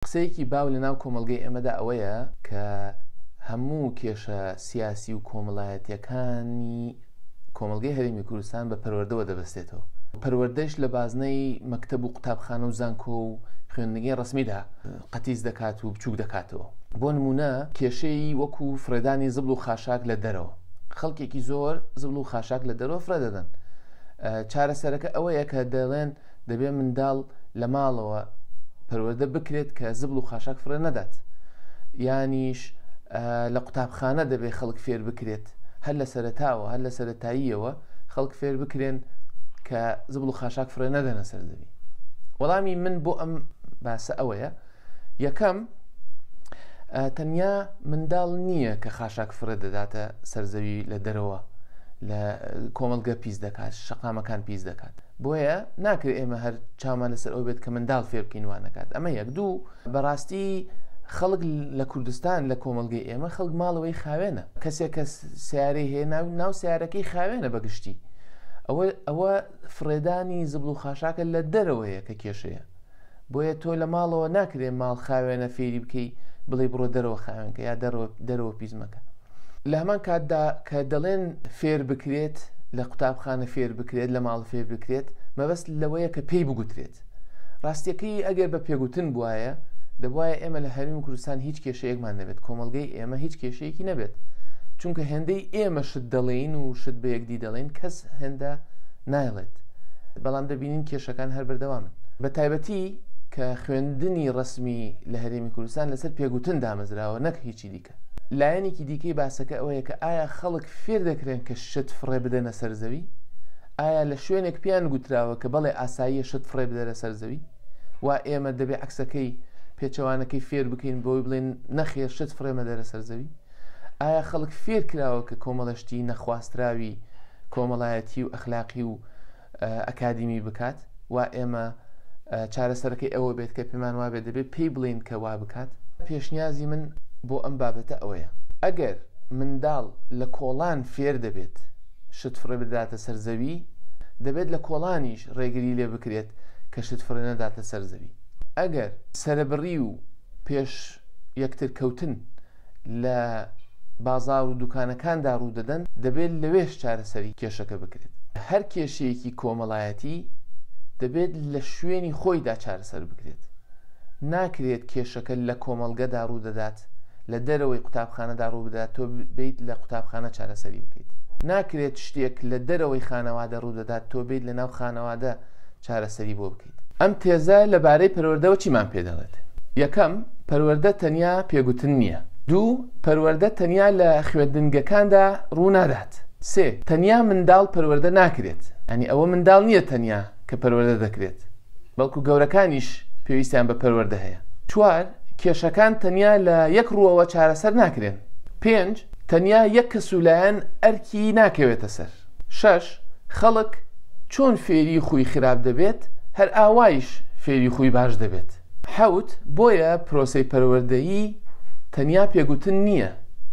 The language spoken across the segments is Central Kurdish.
قسەیەکی باو لە ناو کۆمەڵگەی ئێمەدا ئەوەیە کە هەموو کێشە سیاسی و کۆمەلایەتیەکانی کۆمەڵگەی هەرێمی کوردستان بە پەروەردەوە دەبەستێتەوە و پەروەردەش لە بازنەی مەکتەب و قوتابخانە و زانکۆ و خوێندنگەی ڕسمیدا قەتیس دەکات و بچووک دەکاتەوە بۆ نمونە کێشەی وەکو فرێدانی زبڵ و خاشاک لە دەرەوە خەڵکێکی زۆر زبڵ و خاشاک لە دەرەوە فرە دەدەن چارەسەرەکە ئەوەیە کە دەڵێن دەبێت منداڵ لە ماڵەوە پەروەردە بکرێت کە زبڵ و خاشاک فڕێ نەدات یانیش لە قوتابخانە دەبێت خەڵک فێر بکرێت هەر لە سەرتاوە هەر لە سەتاییەوە خەڵک فێر بکرێن کە زبڵ و خاشاک فڕێ نەدەنە سەر زەوی وەڵامی من بۆ ئەم باسە ئەوەیە یەکەم، تەنیا منداڵ نییە کە خاشاک فرە دەداتە سەرزەوی لە دەرەوە لە کۆمەلگە پیس دەکات شقامەکان پیس دەکات بۆیە ناکرێت ئێمە هەر چامان لەسەر ئەو بێت کە منداڵ فێ بکەینوانەکات ئەمە یەک دوو بەڕاستی خەڵک لە کوردستان لە کۆمەلگەی ئێمە خەڵک ماڵەوەی خاوێنە کەسێک کە سیارەی هەیە ناو ناو سیارەکەی خاوێنە بەگشتی ئەوە ئەوە فرێدانی زبل و خاشاکە لە دەرەوەیە کە کێشەیە بۆیە تۆ لە ماڵەوە ناکرێ ماڵ خاوێنە فێری بکەی بڵێ بڕۆ دەرەوە خاوێنکە یا دەرەوە پیزمەکە لە هەمان کاتدا کە دەڵێن فێر بکرێت لە قوتابخانە فێر بکرێت لە ماڵ فێر بکرێت مەبەست لەوەیە کە پێی بگوترێت ڕاستیەکەی ئەگەر بە پێگوتن بواە دەبواە ئێمە لە هەرمی و کوردستان هیچ کێشەیەکمان نەبێت کۆمەلگەی ئێمە هیچ کێشەیەکی نەبێت چونکە هێندەی ئێمە شت دەڵێین و شت بە یەکدی دەڵێن کەس هێندە نایڵێت بەڵام دەبی بینین کێشەکان هەر بەردەوامن بە تایبەتی کە خوێندنی ڕسمی لە هەرێمی کوردستان لەسەر پێگوتن دامەزراوە نەک هیچی دیکە لایەنێکی دیکەی باسەکە ئەوەیە کە ئایا خەڵک فێر دەکرێن کە شت فڕێ بدەنە سەر زەوی ئایا لە شوێنێک پێیان گوتراوە کە بەڵێ ئاساییە شت فڕێ بدەرە سەر زەوی و ئێمە دەبێ عکسەکەی پێچەوانەکەی فێر بکەین بۆی بڵێن نەخێر شت فڕێمە دەرە سەر زەوی ئایا خەڵک فێر کراوە کە کۆمەڵەشتی نەخواستراوی کۆمەڵایەتی و ئەخلاقی و ئەکادیمی بکات و ئێمە چارەسەرەکەی ئەوە بێت کە پێمان وابێت دەبێت پێی بڵین کە وا بکات پێشنیازی من بۆ ئەم بابەتە ئەوەیە ئەگەر منداڵ لە کۆڵان فێر دەبێت شت فڕێ بداتە سەر زەوی دەبێت لە کۆڵانیش ڕێگری لێ بکرێت کە شت فڕێ نەداتە سەر زەوی ئەگەر سرەبڕی و پێش یەکتر کەوتن لە بازار و دوکانەکاندا ڕوودەدەن دەبێت لەوێش چارەسەری کێشەکە بکرێت هەر کێشەیەکی کۆمەڵایەتی دەبێت لە شوێنی خۆیدا چارەسەر بکرێت ناکرێت کێشەکە لە کۆمەڵگەدا ڕوودەدات لە دەرەوەی قوتابخانەدا ڕوو بدات تۆ بیت لە قوتابخانە چارەسەری بکەیت ناکرێت شتێک لە دەرەوەی خانەوادە ڕوو دەدات تۆ بیت لە ناو خانەوادە چارەسەری بۆ بکە ئەم تێزە لە بارەی پەروەردەوە چیمان پێ دەڵێت؟ یەکەم، پەروەردە تەنیا پێگوتن نییە. دوو، پەروەردە تەنیا لە خوێندنگەکاندا ڕوو نادات. سێ، تەنیا منداڵ پەروەردە ناکرێت، یانی ئەوە منداڵ نییە تەنیا کە پەروەردە دەکرێت، بەڵکو گەورەکانیش پێویستیان بە پەروەردە هەیە. چوار، کێشەکان تەنیا لە یەک ڕووەوە چارەسەر ناکرێن. پێنج، تەنیا یەک کەس و لایەن ئەرکی ناکەوێتە سەر. شەش، خەڵک چۆن فێری خووی خراپ دەبێت، هەر ئاوایش فێری خووی باش دەبێت. حەوت، بۆیە پرۆسەی پەروەردەیی تەنیا پێگوتن نییە،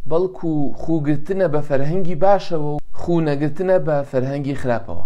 بەڵکو خووگرتنە بە فەرهەنگی باشەوە و خوو نەگرتنە بە فەرهەنگی خراپەوە.